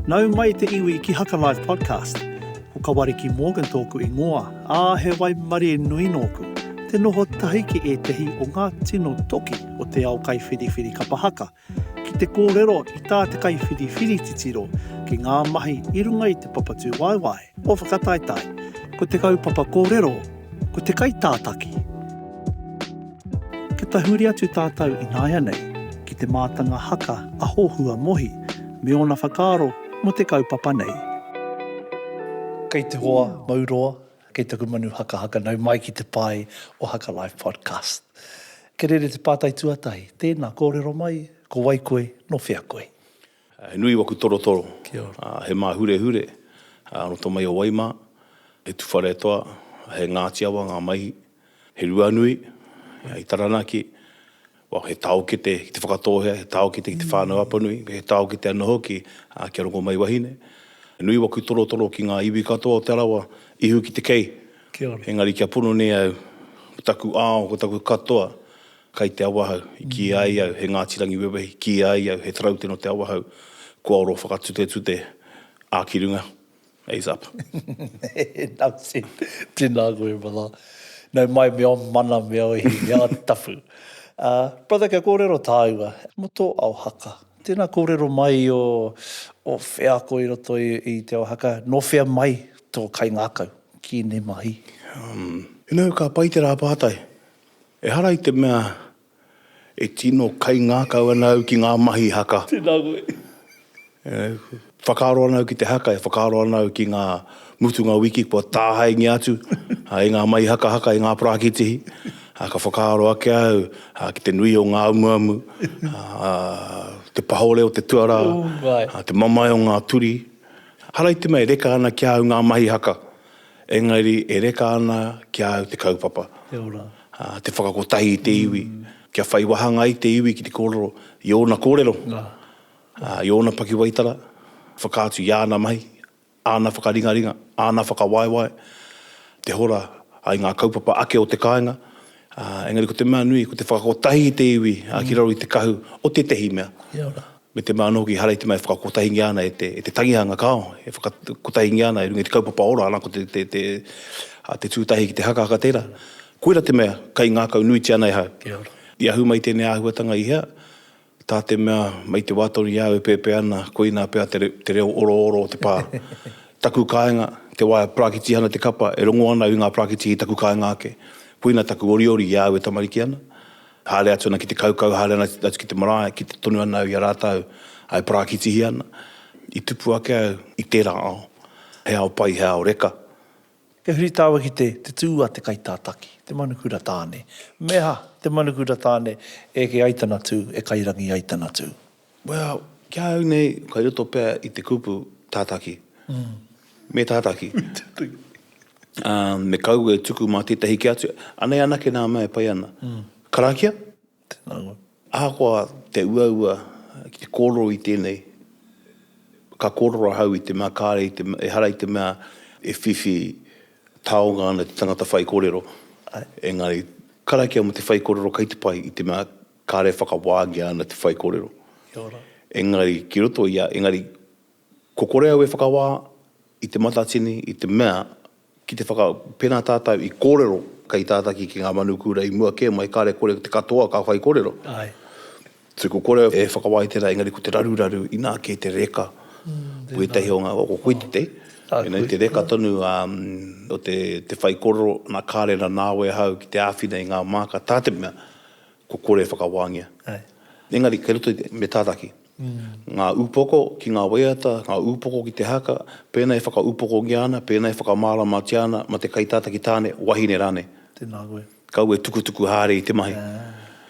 Nau mai te iwi ki Hakalive Podcast. Ko Kawariki Morgan tōku ingoa, ā, he waimarie nui nōku. Te noho tahi ki ētehi o ngā tino toki o te ao kaiwhiriwhiri kapa haka, ki te kōrero i tā te kaiwhiriwhiri titiro ki ngā mahi i runga i te papatūwaewae. Ko whakataetae. Ko te kaupapa kōrero. Ko te kaitātaki. Kia tahuri atu tātou ināianei ki te mātanga haka a Hohua Mohi me ōna whakaaro mō te kaupapa nei. Kei te hoa mau roa, kei taku manu hakahaka nau mai ki te pae o Haka Life Podcast. Kerere te pātai tuatahi, tēnā, kōrero mai, ko wai koe, nō whea koe? He nui waku torotoro. Kia ora. A, he māhurehure, a, roto mai o Waimā, he tuwharetoa, a, he Ngāti Awa ngā maihi, he Ruanui, a, i Taranaki, well, he taokete ki te whakatōhea, he taokete ki te whānau Apanui, he taokete anō hoki, a, kia rongomaiwahine. He nui waku torotoro ki ngā iwi katoa o Te Arawa, ihu ki te kei. Kia ora. Engari kia pono nei au, ko taku ao, ko taku katoa, Kai te Awahou, i kīia ai au he Ngāti Rangiwewehi, kīia ai au he taraute nō te Awahou, kua oro whakatutetute a ki runga, ace up. Enough said, tēnā koe brother. Nau mai me ō mana me ō ihi mea tapu. Brother kia kōrero tāua, mō tō ao haka, tēnā kōrero mai i ō wheako i roto i te ao haka, nō whea mai tō kaingākau ki ēnei mahi? Umm, you know, ka pai te rā pātai, Ehara i te mea e tino kaingākau ana au ki ngā mahi haka. Tēnā koe. E whakaaro ana au ki te haka, e whakaaro ana au ki ngā mutunga wiki kua tāhaengia atu i ngā mahi hakahaka, i ngā parākitihi. Ka whakaaro ake au ki te nui o ngā amuamu, te pahore o te tuarā, te mamae o ngā turi. Ehara i te mea e reka ana ki a au ngā mahi haka, Engari e reka ana ki a au te kaupapa, te whakakotahi i te iwi, kia whai wāhanga ai te iwi ki te kōrero i ōna kōrero, i ōna pakiwaitara, whakaatu i āna mahi, āna whakaringaringa, āna whakawaewae, te hora ai ngā kaupapa ake o te kāinga, engari ko te mea nui ko te whakakotahi i te iwi ki raro i te kahu o tētehi mea. me te mea anō hoki ehara i te mea e whakakotahingia ana e te tangihanga kāo, e whakakotahingia ana i runga i te kaupapa ora ana ko te tūtahi ki te hakahaka tērā. Koira te mea kai ngākau nuitia ana e hau. Kia ora. I ahu mai tēnei āhuatanga i hea? Tā te mea mai te wā tonu i a au e pēpē ana koinā pea te reo orooro o te pā. Taku kāinga, te wā e parakitiha ana te kapa, e rongo ana au i ngā parakitihi i taku kāinga ake. Koina taku oriori i a au e tamariki ana. Haere atu ana ki te kaukau, haere ana atu ki te marae, kite tonu ana au i a rātou e parākitihia ana. I tupu ake au i tērā ao, he ao pai, he ao reka. He huritao ki te tū a te kaitātaki, te manukura tāne. Me aha, te manukura tāne, eke ai tana tū, e kairangi ai tana tū. Well, ki a au nei, kei roto pea i te kupu tātaki. Me tātaki. Me kaua e tuku mā tētahi kē atu. Anei anake nā mea e pai ana. Karakia? Tēnā koe. Ahakoa te uaua ki te kōrero i tēnei, ka kōrero ahau i te mea kāre, ehara i te mea e whiwhi taonga ana te tangata whaikōrero. Engari, karakia mō te whaikōrero kei te pai i te mea, Kāre e whakawāngia ana te whaikōrero. Kia ora. Engari, ki roto i a, engari, ko kore au e whakawā i te matatini, i te mea, ki te whaka, pēnā tātou i kōrero kei tātaki ki ngā manukura i mua kē mai, kāre kore te katoa ka whaikōrero. Āe. So ko kore e whakawā i tērā, engari ko te raruraru, inā kē te reka o ētahi o ngā, ko koe te te, you know, te reka tonu o te whaikōrero, nā kāre rā nāu e hau ki te āwhina i ngā māka, tā te mea, ko kore e whakawāngia. Engari kei roto me tātaki ngā upoko ki ngā waiata, ngā upoko ki te haka, pēnā e whakaupokongia ana, pēnā e whakamāramatia ana mā te kaitātaki tāne, wahine rānei. Tēnā koe. Kaua e tukutuku haere i te mahi.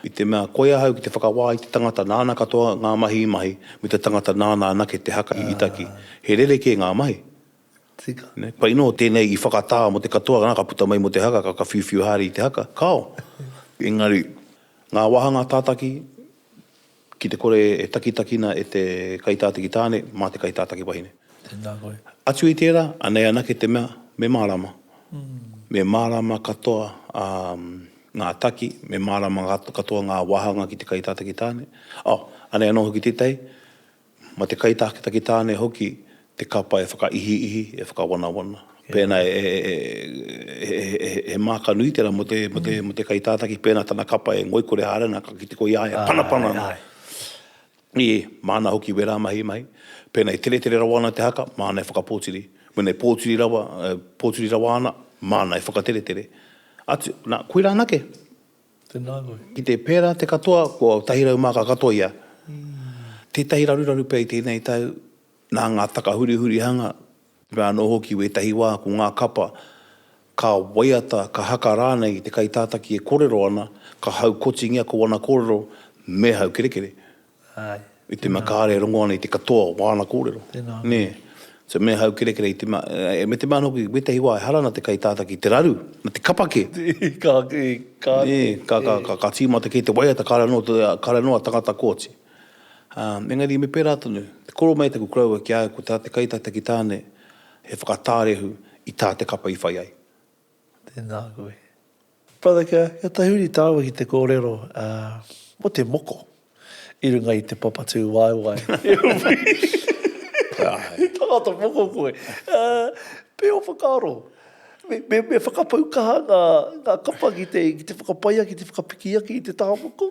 I te mea koi ahau ki te whakawā i te tangata nāna katoa ngā mahi i mahi, me te tangata nāna anake te haka i taki. He rerekē ngā mahi. Tika. Pai nō, tēnei i whakatā mō te katoa, nā, ka puta mai mō te haka, ka, ka whiuwhiu haere i te haka, kāo. Engari, ngā wāhanga tātaki, ki te kore e takitakina e te kaitātaki tāne mā te kaitātaki wahine. Tēnā koe. Atu i tērā, anei anake te mea, me mārāma. Me mārāma katoa ngā taki, me mārāma katoa ngā wāhanga ki te kaitātaki tāne. Oh, anei anō hoki tētahi, Mā te kaitākitaki tāne hoki te kapa e whakaihiihi, e whakawanawana. Pēnā he māka nui tērā mō te kaitātaki, pēnā tana kapa e ngoikore haere ana, ka kite koe i a ia e panapana ana. Ē, māna hoki wērā mahi mai. Pēnā i teretere rawa ana te haka, māna e whakapōtiri. Mēnā i pōtiri rawa, pōtiri rawa ana, māna e whakateretere. Atu, nā, koirā anake. Tēnā koe. Ki te pērā te katoa, ko tahi rau māka katoa ia. Tētahi raruraru pea i tēnei tau, nā ngā takahurihurihanga, me anō hoki wētahi wā ko ngā kapa, ka waiata, ka haka rānei i te kaitātaki e korero ana, ka haukotingia ko ana korero me haukerekere. I te mea kāre e rongo ana i te katoa o āna kōrero. Tēnā anō hoki. So me haukerekere i te mea, me te mea anō hoki, wētahi wā ehara ana te kaitātā ki te raru, na te kapa kē. Ka, ka. Ka, ka, ka, ka tīmata kē te waiata kāre anō, kāre anō a tangata kooti. Engari me pērā tonu, te koro mai taku koroua ki a au ko tā te kaitātā ki Tāne he whakatārehu i tā te kapa i whai ai. Tēnā koe. Brother kia tahuri tāua ki te kōrero mō te moko i runga i te papatū waewae. He tangata moko koe. Pē o whakaaro. Me whakapau kaha ngā kapa ki te whakapai ake, ki te whakapiki ake i te taha moko.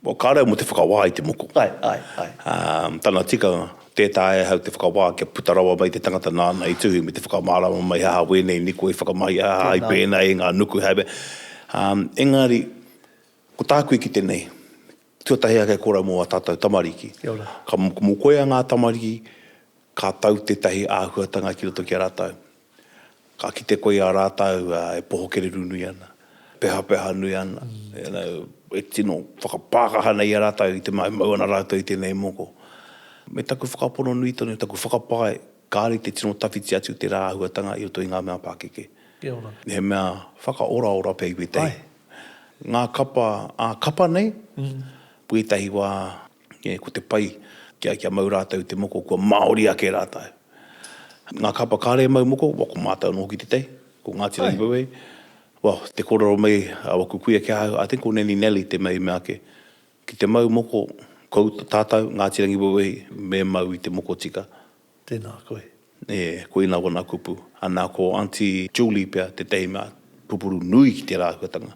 Well, ka reo mo te whakawā i te moko. Ae, ae, ae. Um, tana tikanga, tē taea e hau te whakawā kia puta rawa mai te tangata nāna i tuhi me te whakamārama mai he aha wēnei niko i whakamahi, he aha i pēnā e ngā nuku, he aha i pēnā. Um, engari, ko tāku i kite nei, tuatahi ake koura mō a tātou tamariki. Kia ora. Ka mokomokoia ngā tamariki, Ka tau tētahi āhuatanga ki roto ki a rātou. Ka kite koe i a rātou e poho kererū nui ana, e pehapeha nui ana, you know, e tino whakapākaha ana i a rātou i te mea e mau ana rātou i tēnei moko. Me taku whakapono nui tonu, taku whakapae, kāore i te tino tawhiti atu tērā āhuatanga i roto i ngā mea pākeke. Kia ora. He mea whakaoraora pea i wētahi. Ngā kapa ā-kapa nei, wētahi wā E, ko te pai, kia, kia mau rātou i te moko, kua Māori ake rātou. Ngā kapa kāre e mau moko, wa, ko mātou anō hoki te tei, ko Ngāti Rangi Wewei. Wa, te kōrero mai a waku kuia ki ahau, I think ko Neni Nellie te mea i mea ake, ki te mau moko, kou, tātou, Ngāti Rangi Wewei, me mau i te moko tika, Tēnā koe. E, koina wana kupu. Ana ko Aunty Julie pea tētahi mea pupuru nui ki tērā āhuatanga.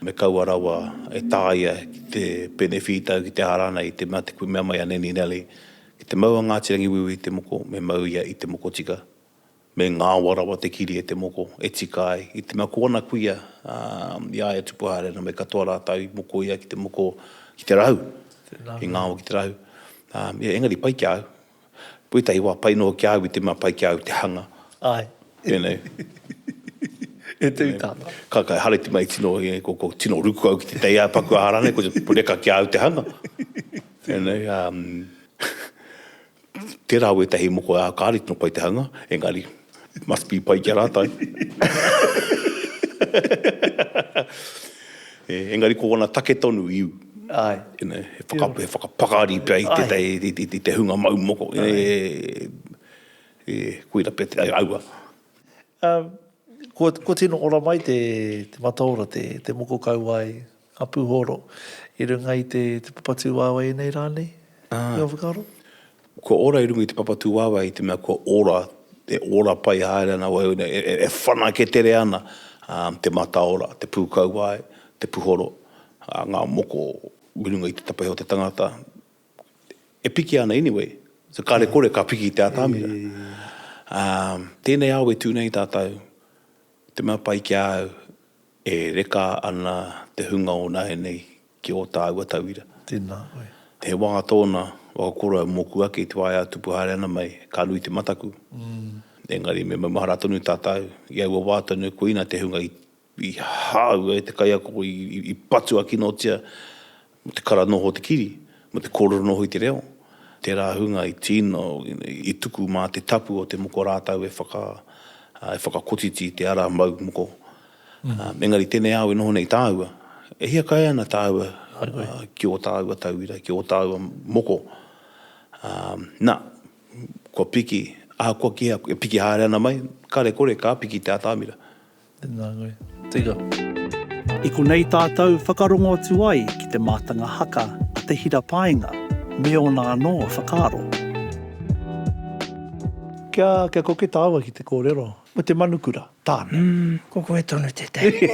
Me kaua rawa e tāia ki te pēne whītau, ki te ārā nei, te mea te kui mea mai a Nanny Nellie, ki te mau a Ngāti Rangiwewehi te moko, me mau ia i te moko tika. Me ngāwha rawa te kiri e te moko, e tika ai. I te mea ko ana kuia, ā, i a ia tupu haere ana me katoa rātou i moko ia ki te moko, ki te rahu, i ngāwha ki te rahu. Ā, engari pai ki a au. Ko ētahi wā pai noa ki a au i te mea pai ki a au te hanga. Āe. Tēnei. E tū tāna. Ka kai hareti mai tino, ko, ko tino ruku au ki te tei ā-paku ā-rānei, ko te reka ki a au te hanga. Tēnei, ā. Tērā au ētahi moko e ākāri tonu koe te hanga, engari, it must be pai ki a rātou. Engari ko ōna take tonu, iu. Āe. You know, he whaka, he whakapakari pea i tētahi, i te, i te hunga mau moko. Āe. Koira pea te, aua. Ā, kua, kua tino ora mai te, te mataora, te, te moko kauae a Pūhoro i runga i te, te papatūāwai nei rā nei? Ā. Te whakaaro? Kua ora i runga i te papatūāwai i te mea kua ora, e ora pai haere ana au nei, e, e, e whanake tere ana, ā, te mataora, te pūkauae, te puhoro, ā, ngā moko i runga i te tapehe o te tangata. e piki ana anyway, so ka re kore ka piki te atamira. Um, tēnei ao e tū nei tātou, te mea pai ki a au, e reka ana te hunga o nae nei ki ō tāua tauira. Tēnā koe. He wā tōna, waka koroua mōku ake i te wā e ātupu haere ana mai, ka nui te mataku. Engari me maumahara tonu tātou, i aua wā tonu koina te hunga i I hāua e te kaiako i patua kinotia mō te kara noho o te kiri, mō te kōrero noho i te reo, tērā hunga i tīno, i tuku mā te tapu o te moko rātau e whakakotiti i te ara mau moko. Engari tēnei ao e noho nei tāua, e hia kai ana tāua ki ō tāua tauira, ki ō tāua moko. Nā, kua piki, ahakoa kīhea, e piki haere ana mai, kare kore ka piki te atamira. Tēnā koe. Tika. I konei tātou whakarongo atu ai ki te mātanga haka a Te Hira Paenga me ōna anō whakaaro. Kia, kia koke tāua ki te kōrero. Ko te manukura tāna. Mm, ko koe tonu tētahi.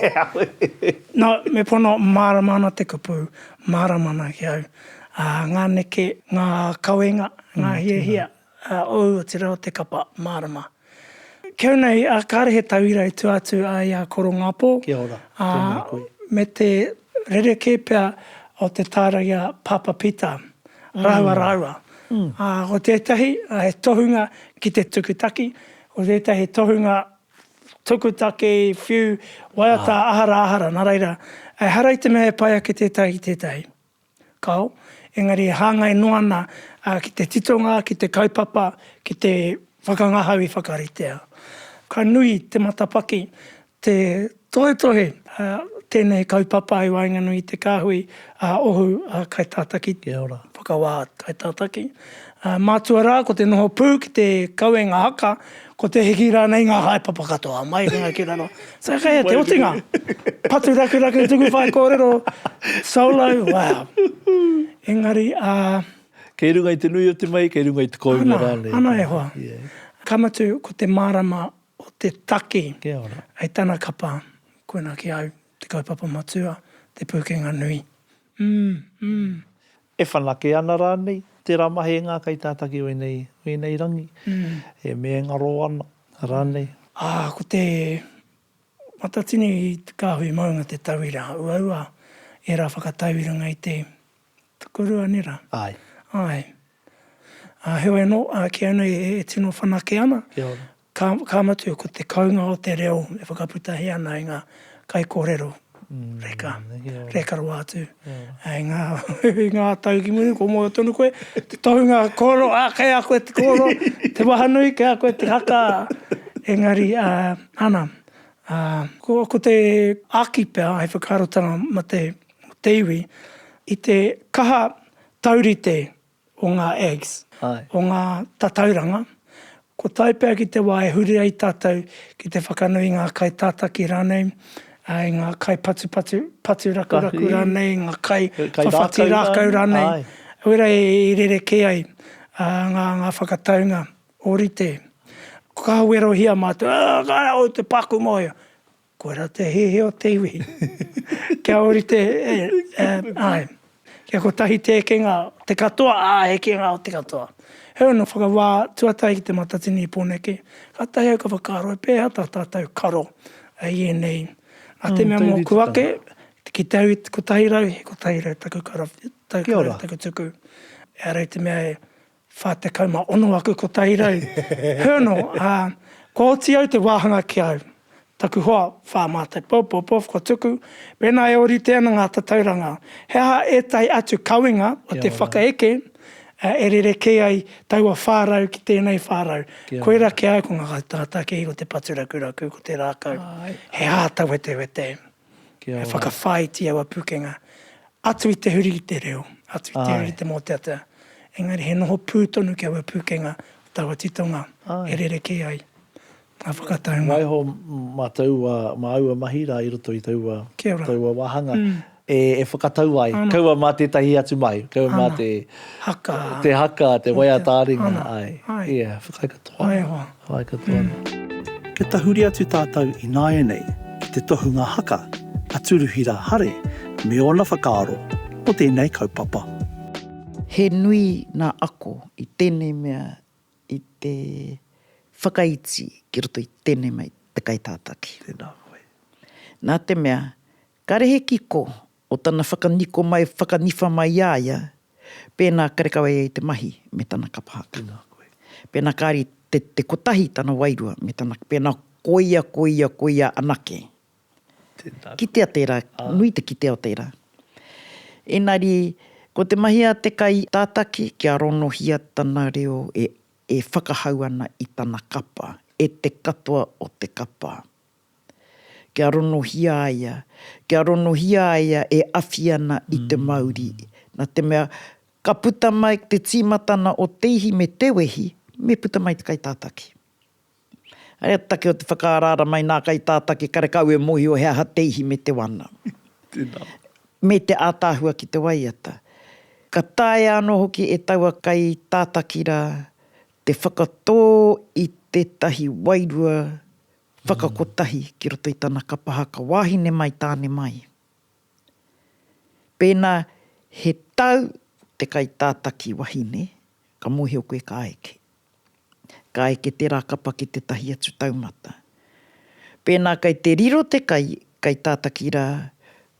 No, me pono, mārama ana te kupu, mārama ana ki au. Ā, ngā neke, ngā kawenga, ngā hiahia, Ā, ōu, otirā, o te kapa, mārama. Keu nei, ā, kāre he tauira i tua atu ai a Korongāpō, Kia ora, ā, tēnā koe. me te rerekē pea o te tāra i a Pāpā Pītā rāua rāua. Ā, ko tētahi, he tohunga ki te tukutaki, ko tētahi he tohunga tukutaki, whiu, waiata āhara āhara, nā reira, ehara i te mea e pai ake tētahi ki tētahi. Kao, engari e hāngai noa ana ki te titonga, ki te kaupapa, ki te whakangahau i whakaritea. Ka nui te matapaki, te tohetohe a tēnei kaupapa i waenganui i te kāhui a Ohu Kaitātaki, whakawā Kaitātaki. Mātua rā ko te noho pū ki te kawenga haka, Ko te hiki rānei ngā haepapa katoa mai i runga ki raro. So kei a te otinga, patu rakuraku tuku whaikōrero, solo, wow. Engari, ā. Kei runga i te nui o te mahi, kei runga i te kounga rānei. Ana, ana e hoa. Ka mutu, ko te mārama o te taki hei tana kapa, koina ki au te kaupapa matua, te pūkenga nui. Umm, umm. E whanake ana rānei? Tērā mahi e ngākai tātaki o ēnei, o ēnei rangi, e mēngaro ana rānei? Ā, ko te Matatini Kāhui Maunga te tauira uaua, ērā whakatau i runga i te tukurua, nē rā? Āe. Āe. Ā, heoi anō, kīia nei e tino whanake ana, Ka, ka mutu, ko te kounga o te reo e whakaputahi ana i ngā kaikōrero reka, reka rawa atu. Yeah. I ngā, i ngā tau ki muri, ko moe tonu koe, te tohunga kōrero, ā, kei a koe te kōrero, te wahanui, kei a koe te haka, engari, ā, ana, ā, ko, ko te āki pea, he whakaarotanga mā te, te iwi, i te kaha taurite o ngā ags, o ngā tatauranga, ko tai pea ki te wā e huri ai tātou ki te whakanui i ngā kai tātaki rānei, i ngā kai patupatu, patu rakuraku rānei, ngā kai whawhati rākau rānei, wera e rerekē ai ngā whakataunga ōrite. Ka werohia mātou, ā, ka rā, oi te pākū mōhio. Koirā te hehe o te iwi. Kia orite ae. Kia kotahi te ekenga o te katoa a ekenga o te katoa. Heoi anō whakawā tuatahi ki te matatini i Poneke, kātahi au ka whakaaro e pēhā tā tātou karo i ēnei. Nā te mea mōku ake, ki te au i 100, he 100 taku karawhiu, taku karawhiu taku tuku. Ehara i te mea e 46 aku ko Tahirau Hernal, ā, kua oti au te wāhanga ki au, taku hoa, whā mātou pou, Popov, kua tuku, pēnā e ōrite ana ngā tatauranga, he aha ētahi atu kawenga o te whakaeke e rerekē ai taua 400 ki tēnei 400. Koirā ki a au ko ngā kaitangata kē, ko te paturakuraku, ko te rākau, he hātawetewete. He whakawhāiti aua pūkenga atu i te huri i te reo, atu i te huri i te mōteatea. Engari he noho pū tonu ki aua pūkenga o taua titonga e rerekē ai ngā whakataunga. Waiho mā taua, mā aua mahi rā i roto i taua, taua wāhanga e whakatau ai. Kaua mā tētahi atu mahi, kaua mā te haka, te waiata-ā-ringa, āe. Āe. Ia, whakaae katoa. Waiho. Whai katoa nei. Kia tahuri atu tātou i nāianei ki te tohunga haka a Turuhira Hare me ōna whakaaro mō tēnei kaupapa. He nui ngā ako i tēnei mea i te whakaiti ki roto i tēnei mea i te kaitātaki. Tēnā koe. Nā te mea, Karehe kiko o tana whakaniko mai whakaniwha mai i a ia pēnā karekau ai te mahi me tana kapa haka. Pēnā kāre te te kotahi tana wairua me tana pēnā koia koia koia anake. Kitea tērā, nui te kitea o tērā. Ēnari, ko te mahi a te kai tātaki kia ronohia tana reo e e whakahau ana i tana kapa, e te katoa o te kapa. Kia ronohia a ia, kia ronohia a ia e awhi ana i te mauri. Na te mea, ka puta mai te timatana o te ihi me te wehi, me puta mai te kaitataki. Ai a take o te whakaaraara mai na kaitataki karekau e mohio he aha te ihi me te wana. Tena. Me te ataahua ki te waiata. Ka taea ano hoki e taua kaitataki ra te whakato i tetahi wairua Whakakotahi ki roto i tana kapa haka wāhine mai tāne mai. Pēnā he tau te kaitātaki wahine, ka mōhio koe ka eke. Ka eke tērā kapa ki tētahi atu taumata. Pēnā kei te riro te kai, kaitātaki rā,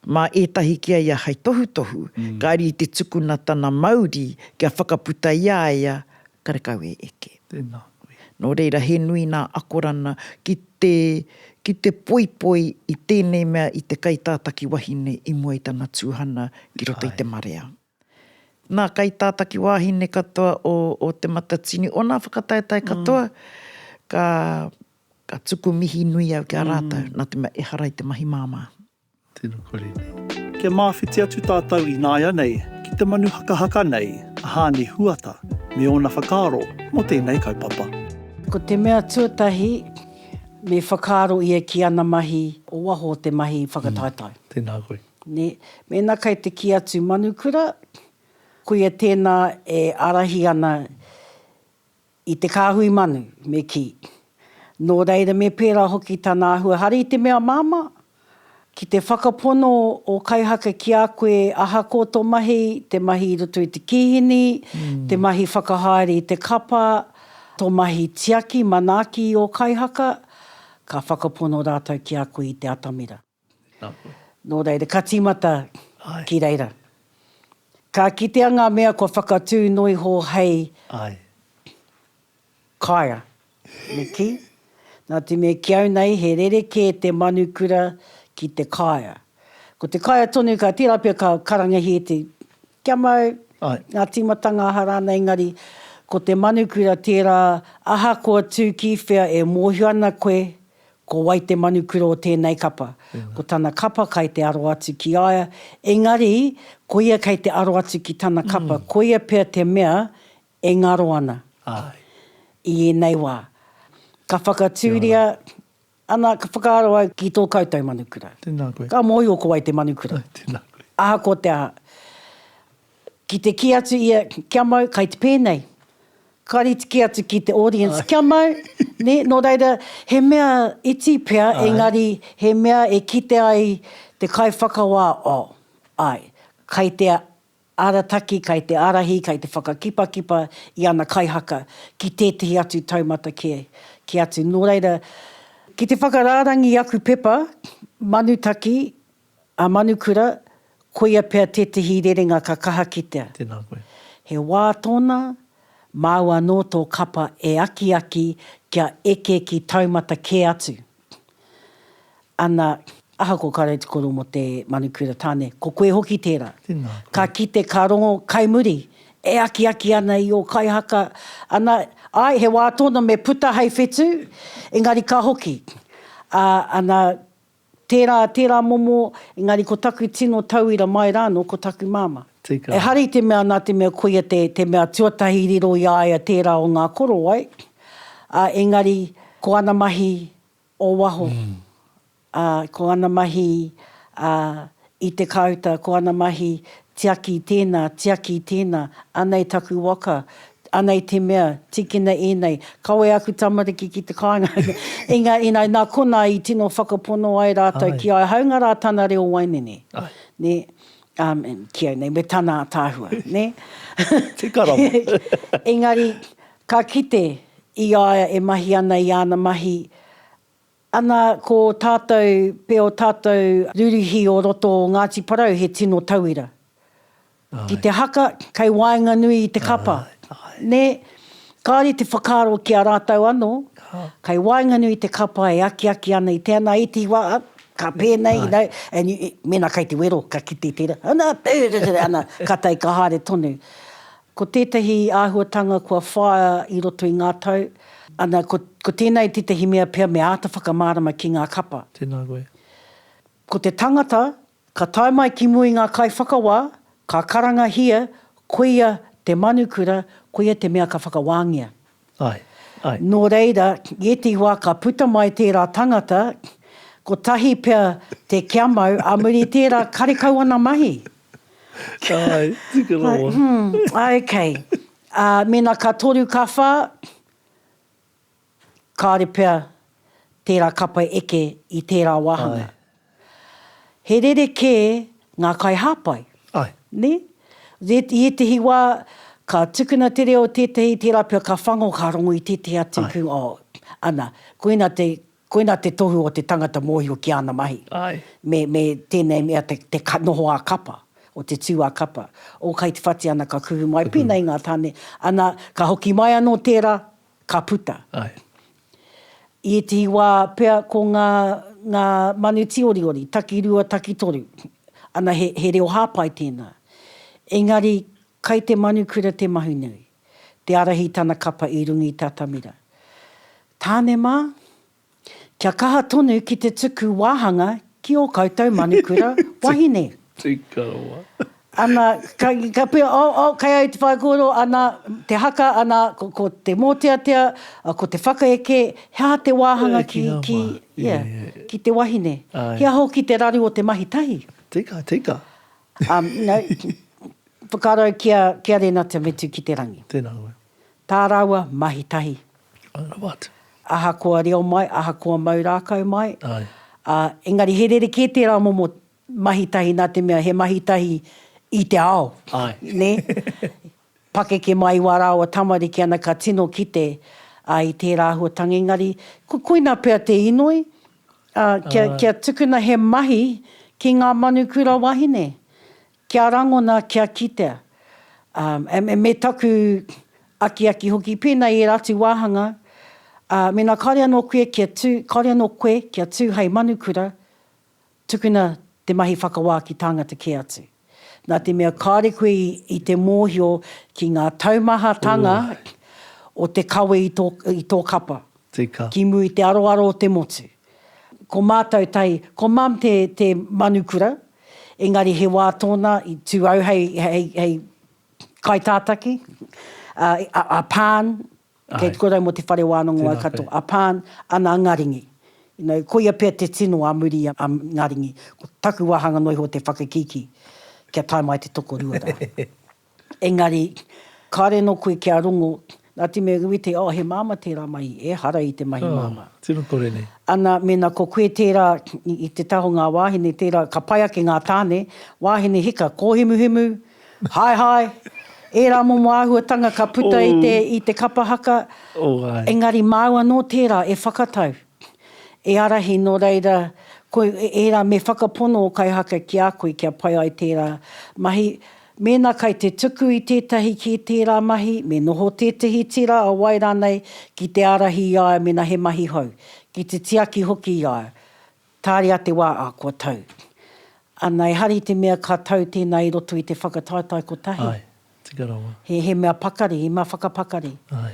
mā ētahi ki a ia hai tohutohu, kāre i te tukuna tana mauri kia whakaputa i a ia Karekau e eke. Tēnā koe. Nō reira, he nui nā akorana ki te, ki te poipoi i tēnei mea i te kaitātaki wahine i mua i tana tūhana ki roto i te marea. Nā kaitātaki wāhine katoa o, o Te Matatini, o nā whakataetae katoa, ka, ka tuku mihi nui au ki a rātou, nā te mea, ehara i te mahi māmā. Tena kore nei. Kia māwhiti atu tātou ināianei ki te manu hakahaka nei a Hāni Huata me ōna whakaaro mō tēnei kaupapa. Ko te mea tuatahi, me whakaaro ia ki ana mahi o waho o te mahi whakataetae. Tēnā koe. Nē. Mēnā kei te kī atu manukura, koia tēnā e ārahi ana I te kāhui manu, me kī. Nō reira me pērā hoki tana āhua hari i te mea māmā, ki te whakapono ō kaihaka ki a koe ahakoa tō mahi, te mahi i roto i te kīhini, te mahi whakahaere i te kapa, tō mahi tiaki, manaaki i ō kaihaka, ka whakapono rātou ki a koe i te atamira. Tēnā koe. Nō reira, ka tīmata ki reira. Ka kitea ngā mea kua whakatū noa iho hei kaea. Me kī, nā te mea ki au nei he rerekē te manukura ki te kaea. Ko te kaea tonu ka tērā pea ka karangahi e te kia mau, ngā tīmatanga aha rānei, engari ko te manukura tērā ahakoa tū kīwhea e mōhio ana koe Ko wai te manu kura o tēnei kapa? Ko tana kapa kai te aro atu ki a ia, engari, koia kei te aro atu ki tana kapa, koia pea te mea e ngaro ana i ēnei wā. Ka whakatūria, ana, ka whakaaro au ki tō koutou manu kura. Ka mōhio ko wai te manu kura. Ahakoa te aha. Ki te kī atu ia, Kia mau, kai te pēnei. Kāre i te kī atu ki te audience, Kia mau, nē? Nō reira, he mea iti pea, engari he mea e kite ai te kaiwhakawā, oh, āe, kai te arataki, kai te ārahi, kai te whakakipakipa i ana kaihaka ki tētehi atu taumata kē, kē atu. Nō reira, ki te whakarārangi i aku pepa, Manutaki, A Manukura, koia pea tētehi rerenga ka kaha kitea. Tēnā koe. He wā tōna, māu anō tō kapa e akiaki kia eke ki taumata kē atu. Ana. Ahakoa ka rau te koro mō te Manukura tāne, ko koe hoki tērā. Tēnā koe. Ka kite, ka rongo kai muri, e akiaki ana i ō kaihaka. Ana, āe, he wā tōna me puta hei whetū, engari ka hoki. Ā, ana, Tērā, tērā momo, engari ko taku tino tauira mai rāno ko taku māmā. Tika. Ehara i te mea nā te mea koia te, te mea tuatahi riro i a ia tērā o ngā korowai, ā, engari ko ana mahi o waho, ā, ko ana mahi, ā, I te kāuta ko ana mahi tiaki i tēnā, tiaki i tēnā, anei taku waka, anei te mea, tīkina ēnei, kawe aku tamariki ki te kāinga. Engari, engari nā konā i tino whakapono ai rātou ki a au, hāunga rā tana reo waenene. Āe. Nē? Ā, ki au nei, me tana ātaahua, nē? Te karanga. Engari, ka kite i a ia e mahi ana i āna mahi Ana ko tātou pea o tātou rūrihi o roto o Ngāti Porou he tino tauira. Ki te haka, kei waenganui i te kapa. Nē? Kāore te whakaaro ki a rātou anō, kei waenganui i te kapa e akiaki ana i tēnā, i te wā, ka pēnei, you know, and mēnā kei te wero, ka kite i tērā, ana, ana, ka tae, ka haere tonu. Ko tētahi āhuatanga kua whāia i roto i ngā tau, ana, ko, ko tēnei tētahi mea pea me āta whakamārama ki ngā kapa. Tēnā koe. Ko te tangata, ka tae mai ki mua i ngā kaiwhakawā, ka karangahia, koia te manukura, koia te mea ka whakawāngia. Ae, ae. Nō reira, i ētahi wā ka puta mai tērā tangata, kotahi pea te kia mau, ā muri i tērā, karekau ana mahi. Ae, tika rawa. Ae, ok. Ā, mēnā ka toru, ka whā, kāore pea tērā kapa eke i tērā wāhanga. Ae. he rerekē ngā kaihāpai. Ae. Nē? Ret, i ētehi wā, ka tukuna te reo tētehi tērā pea ka whango, ka rongo i tētehi atu. Ae. Kū, oh, ana, koina te, koina te tohu o te tangata mōhio ki āna mahi. Ae. Me, me tēnei mea te, te ka, noho ā-kapa, o te tū ā-kapa. Oh, kai te whati ana ka kuhu mai. Pēnei ngā tāne. Ana, ka hoki mai anō tērā, ka puta. Ae. I ētehi wā pea ko ngā, ngā manu tīoriori, takirua, takitoru, ana he, he reo hāpai tēnā. Engari, kai te manukura te mahi nui, te ārahi tana kapa i runga i te atamira. Tāne mā, Kia kaha tonu ki te tuku wāhanga ki ō koutou manukura wahine. Tika rawa. Ana, ka puea, oh, oh, kai au te whaikōrero, ana, te haka, ana, ko te mōteatea, ko te whakaeke, he aha te wāhanga ki, ki, yeah, ki te wahine? He aha hoki te raru o te mahi tahi? Tika, tika. Um, you know, whakaaro au ki a, ki a Rēnata Metuki-te-rangi. Tēnā koe. Tā rāua mahi tahi. I know what. Ahakoa reo mai, ahakoa mau rākau mai. Aye. Ā, engari he rerekē tērā momo mahi tahi nā te mea he mahi tahi i te ao. Aye. Nē? Pakeke mai i wā rāua tamariki ana ka tino kite, ā, i tērā āhuatanga. Engari, ko, koina pea te inoi, ā, kia, kia tukuna he mahi ki ngā manu kura wahine. Kia rangona, kia kitea. Ā, me taku akiaki hoki, pēnā i ērā atu wāhanga, ā, mēnā kāore anō koe kia tū, kāore anō koe kia tū hei manukura, tukuna te mahi whakawā ki tāngata kē atu. Nā te mea kāore koe i te mōhio ki ngā taumahatanga o te kawe i tō, i tō kapa. Tika. Ki muri i te aroaro o te motu. Ko mātou tahi, ko mum te, te manukura, Engari he wā tōna i tū au hei, hei, hei kaitātaki, a, a, a Pan, kei te korau mō te whare wānanga o Waikato, a Pan, ana ngā ringi. You know, koia pea te tino a muri a ngā ringi. Ko taku wāhanga noa iho te whakakīkī, kia tae mai te tokorua rā. Engari, kāre anō koe kia rongo, nā te mea iwi te, oh, he māmā tērā mahi, ehara i te mahi māmā. Oh, tino kore nei. Ana, mēnā ko koe tērā, i te taha o ngā wāhine, tērā, ka pai ake ngā tāne, wāhine hika, kōhimuhimu, haehae, ērā momo āhuatanga ka puta i te, i te kapa haka. Oh, ai. Engari māu anō tērā e whakatau. E ārahi nō reira koe ērā me whakapono ō kaihaka ki a koe kia pai ai tērā mahi. Mēnā kai te tuku i tētahi kē tērā mahi, me noho tētahi tira a wai rānei ki te ārahi i a ia mēnā he mahi hou, ki te tiaki hoki i a ia. Tāria te wā, ā, kua tau. Ana, e hari te mea ka tau tēnā i roto i te whakataetae kotahi. Āe, tika rawa. He mea pakari, he mea whakapakari. Āe.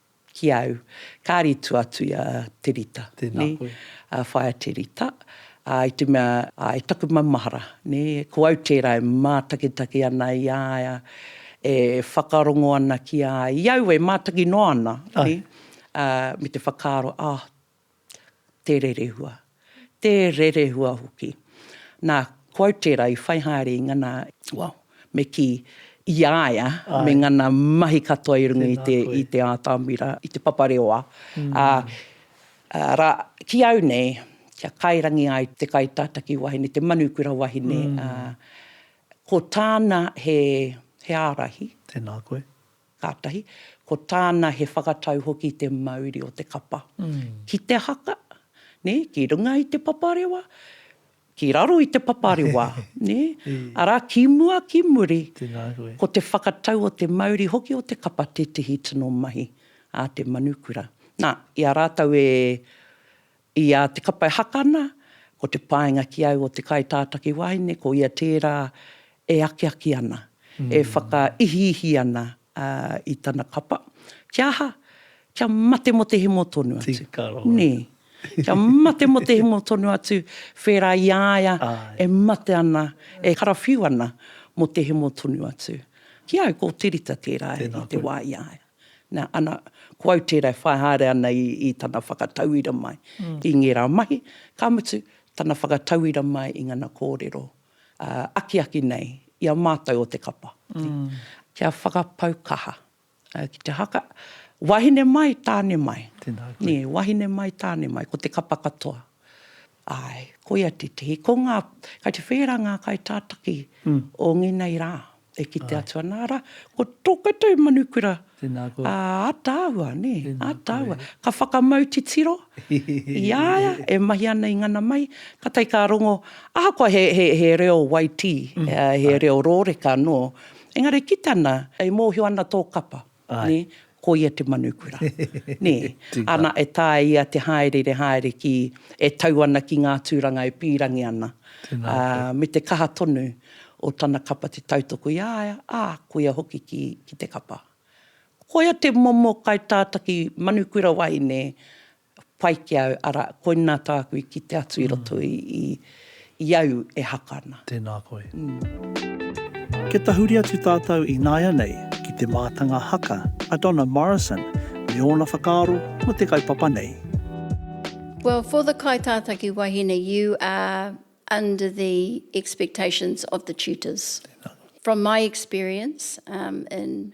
ki au. Kāri tu atu i a Te Rita, nē, a Whaea Te Rita, ā, i te mea, ā, e taku maumahara, nē, ko au tērā e mātakitaki ana i a ia, e whakarongo ana ki a ia, i aua e mātaki noa ana, nē, ā, me te whakaaro, ā, te rerehua, te rerehua hoki. Nā, ko au tērā i whai haere i ngana, well, me kī, i a ia me ngana mahi katoa i runga i te, i te ātamira, i te papareoa. Arā, ki au nei, kia kairangi ai te kaitātaki wahine, te manukura wahine, ko tāna he, he ārahi. Tēnā koe. Kātahi, ko tāna he whakatau hoki te mauri o te kapa ki te haka, nē, ki runga i te paparewa, ki raro i te paparewa, nē, arā, ki mua, ki muri, ko te whakatau o te mauri hoki o te kapa tētehi tino mahi a te manukura. Nā, i a rātou e I a Te Kapai Hakana, ko te paenga ki au o te kaitātaki wāhine, ko ia tērā e akiaki ana, e whakaihiihi ana i tana kapa. Kia aha? Kia mate mō te hemo tonu atu. Tika rawa. Nē. Kia mate mō te hemo tonu atu, whērā i a ia e mate ana, e karawhiu ana mō te hemo tonu atu. Ki au, ko Te Rita tērā i te wā i a ia. Nā, ana, ko au tērā e whai haere ana i, i tana whakatauira mai i ngērā mahi, ka mutu, tana whakatauira mai i ngana kōrero akiaki nei i a mātou o te kapa. Kia whakapau kaha ki te haka, wahine mai, tāne mai. Tēnā koe. Nē, wahine mai, tāne mai, ko te kapa katoa. Ae, koia tetihi. Ko nga, kai te whera nga kai tataki o ngenei ra e kite atu ana, ara, ko to koutou manukura a ataahua, ne, ataahua. Ka whakamau titiro i a ia e mahi ana i ngana mai, katai ka rongo, ahakoa he, he, he reo waitī, he reo roreka no, engari kite ana e mohio ana to kapa. Nē? Koia te Manukura. Nē? Ana e tāia te hāereere haere ki, e tau ana ki ngā tūranga e pīrangi ana, ā, me te kaha tonu o tana kapa te tautoko i a ia, ā, koia hoki ki, ki te kapa. Koia te momo kaitātaki Manukura wahine Pai ki au, arā, koinā tāku i kite atu i roto i, i, i au e haka ana. Tēnā koe. Kia tahuri atu tātou ināianei ki te mātanga haka a Donna Morrison me ōna whakaaro mō te kaupapa nei. Well for the kaitātaki wahine you are under the expectations of the tutors. From my experience in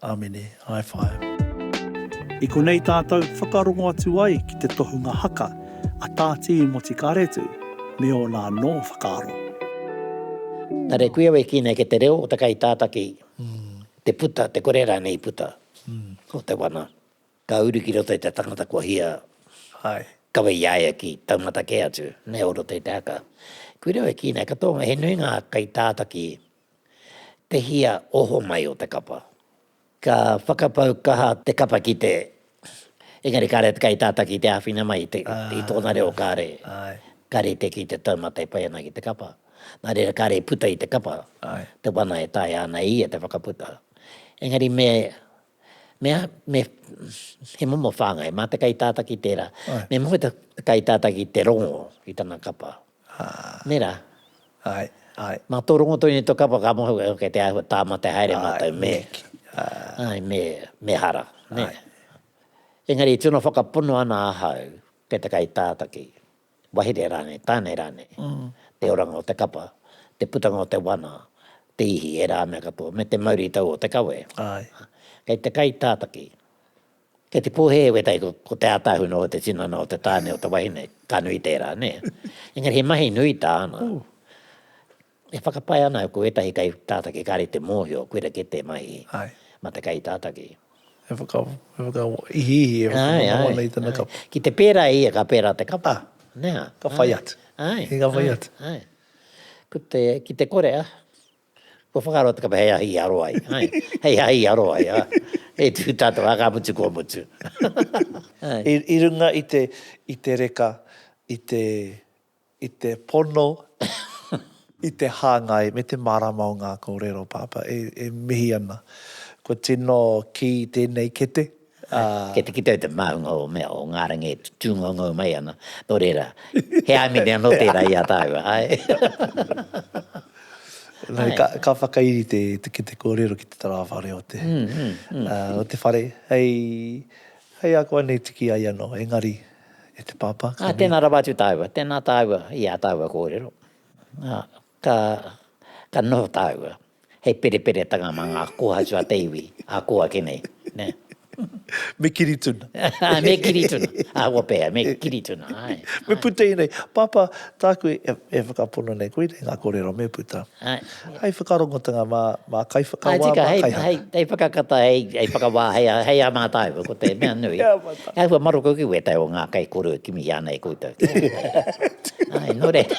Amene. High five. I konei tātou whakarongo atu ai ki te tohunga haka a Tā Tīmoti Karetu me ōna anō whakaaro. Nā reira, kuia wei kī nei kei te reo o te kaitātaki te puta, te kore rānei i puta o te wana ka uru ki roto i te tangata kua hia kawe i a ia ki taumata kē atu nei o roto i te haka. Kuia wei kī nei, katoa, he nui ngā kaitātaki te hia oho mai o te kapa. Ka whakapau kaha te kapa ki te, engari kāre te kaitātaki i te āwhina mai i tōna reo kāre, ka rite ki te taumata e pai ana ki te kapa. Nā reira kāre i puta i te kapa te wana e taea ana e ia te whakaputa. Engari me, me, me, he momo whāngai, mā te kaitātaki tērā, me moe te kaitātaki te rongo i tana kapa. Nei rā. Āe, āe. Mā tō rongo tonu i tō kapa ka moe hoki kei te āhua tāmate haere mātou me. Āe, me, me hara, nē. Engari i tino whakapono ana ahau kei te kaitātaki, wahere rānei, tānei rānei, te oranga o te kapa, te putanga o te wana, te ihi, ērā mea katoa, me te mauritau o te kawe. Āe. Kei te kaitātaki, Kei te pōhēhē wētahi ko Te Ātahu nō te tinana o te tāne o te wahine, ka nui tērā, nē. Engari he mahi nui tāna. E whakapae ana au ko wētahi kaitātaki kāre i te mōhio koira kē te mahi mā te kaitātaki. He whakaihiihi, he whakamanawana i tana kapa. Ki te pērā e ia ka pērā te kapa. Ka whai atu. Ai. Ki te kore a. Kua whakaaro te kapa hei ahi i aro ai, hai, hei ahi i aro ai, ah, e tū tātou, ah, ka mutu kua mutu. Hai. I, i runga i te, i te reka, i te, i te pono, i te hāngai me te mārama o ngā kōrero, Pāpā, e, e mihi ana. Kua tino kī tēnei kete. Kei te kite au te māhunga o mea, o ngā rangi e tūngoungou mai ana, nō reira, he āimini anō tērā i a tāu, āe? Engari ka, ka whakairi te, te kete kōrero ki te tarāwha reo te, o te whare, hei, hei ako ana e tiki ai anō, engari, e te pāpā, ka. Ā, tēnā rawa atu tāua, tēnā tāua i ā tāua kōrero. Ā, ka, ka noho tāua. He pereperetanga mā ngā kōhatu a te iwi, a kō ake nei, nē. Me kiri tuna. Me kiri tuna. Ahakoa pea, me kiri tuna, āe. Me puta i nei. Pāpā, tāku e whakapono nei, koinei ngā kōrero me puta. Hai whakarongotanga mā kaiwhakawā, mā kaihaka. Hai whakakata, hai whakawā, hai a mātau, ko te mea nui. Hai wha maroko ki wētai o ngā kaikōrero e kimi ana e koutou. Āe, nō reira.